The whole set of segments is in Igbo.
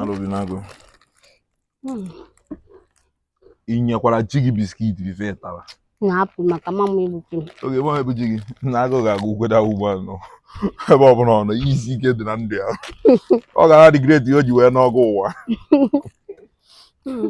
alụbinago hmm. ị nyekwara ji gị biskit bife tara na-apụ maka mama egbuke m oge mama egbu ji gị na agụ ga-agụ ugweda ugbo anọ ebe ọ bụla ọ nọ isi ike dị na ndụ ya ọ ga na-adị ready o ji wee nụọ ọgụ ụwa hmm.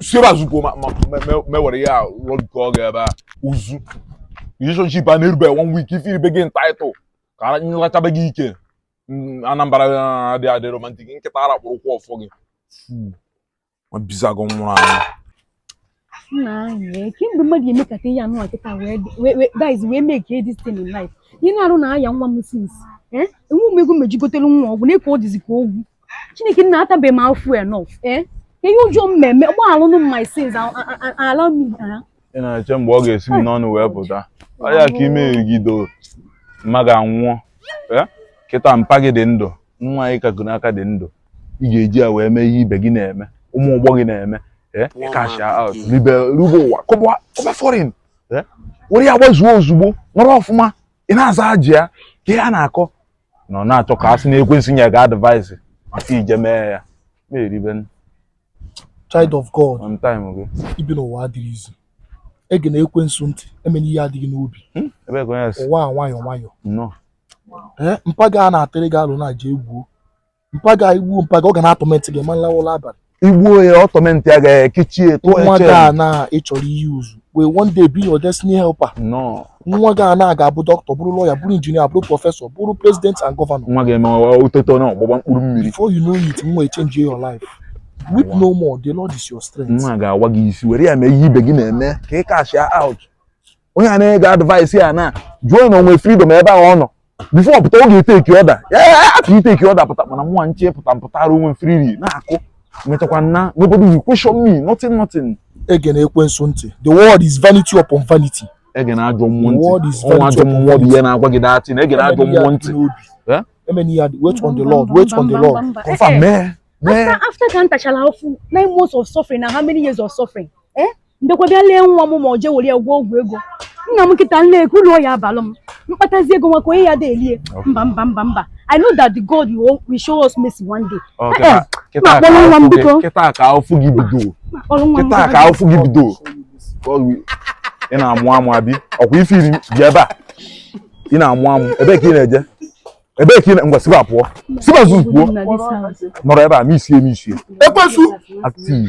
si ebe a zupụọ ma ma me- me- mewere ya rụọ nke ọ ga-ebe a uzu relationship a na-erube one week ife iribe gị title ka ara- nrachabe gị ike Mm, anambra ah, dị adị romantic nkịta ara kpụrụ ụkwụ ọfọ gị Fu, ma bizago nwụrụ anwụ nna anyị kemgbe mmadụ emekata ihe anụ nkịta wee dị- wee- wee- guys wee mee ka this thing in life ihe na arụ na-aya nwa m since enwe m ego m eji gotere nwa ọgwụ nee ka ọ dịzi ka ogwu chineke nna atabeghị m afụfụ enough eh? ihe ọjọọ m meme gbaghalụnụ m my sins ala m ị na-eche mgbe ọ ga-esi m n'ọnụ wee pụta ọ ya ka i merigido mma gị anwụọ eh? kịta mpa gị dị ndụ nwaanyị kago nka dị ndụ ị ga-eji ya wee mee ihe ibe gị na-eme ụmụ ọgbọ gị na-eme eh? cash out ribe rube ụwa kọba foreign were ya gbazuo ozugbo nọrọ ọfụma ị na-aza ji ya ka ihe a na-akọ na ọ na-achọ ka a sị na ekwensu nye gị advice maka ije mee ya na-eribe n- child of god on time gị ibi n'ụwa adịghị easy egena ekwensu ntị emena ihe a dị gị n'obi Hmm? ebe ka onye si ụwa a nwayọ nwayọ nnọọ ee mpa gị a na-atụrụ gị alo na i jee gbuo mpa gị i gbuo mpa gị ọ ga na-atọmentị gị ma ị lawa ụla abalị i gbuo ya ọ tọmentịa gị ekechi ya tụọ nwa gị a na ị chọrọ iyuzu will one day be your destiny helper no nwa gị a na ga-abụ dọkịta bụrụ lọya bụrụ injinia bụrụ prọfesọ bụrụ president and gọvanọ nwa ga-eme ụtụtụ na ọgbụgba mkpụrụ mmiri before you know it nwa echenji your life weep no more the lord is your strength nwa ga-awa gị isi were ya mee ihe ibe gị na-eme ka ị kashia out onye a na-enye gị advice ya na jụọ na o nwe freedom ebe ahụ ọ nọ before ọ pụta ọ ga-eteki order after iteki order pụta mana mụnwa nche pụta m pụtara onwe freely na-akụ mechakwa na nobody will question me nothing nothing egena ekwensu ntị the world is vanity upon vanity egena ajọ mmụọ ntị ọnwa ajọ mmụọ dị ihe na-agwa gị that thing egena ajọ mmụọ ntị emena ya wait on the lord wait on the lord confirm mee after after ka m tachara afụfụ nine months of suffering na how many years of suffering eh m bịakwa bịa lee nwa m ma ọ jee were ya gwọọ ọgwụ ego nna m nkịta nne kee ulu ọ ya-abalụ m m kpatazi ego nwa ka onye ya da elie mba mba mba mba i know that the god you will- will show us mercy one day Ọ, Eh, kịta- kịta ma ka kpọrọ nwa m afụ gị- biko. kịta ka afụfụ gị bido ma kpọrọ nwa m kịta ka biko. afụfụ gị bido Ọ gị- ị na-amụ amụ abi ọ kwa ife i ji bịa ebe a ị na-amụ amụ ebee ka ị na-eje ebee ka ị na ngwa si ebe a pụọ si ebe a zuzu pụọ Nna this house. nọrọ ebe a ma isie ma isie ekwensu active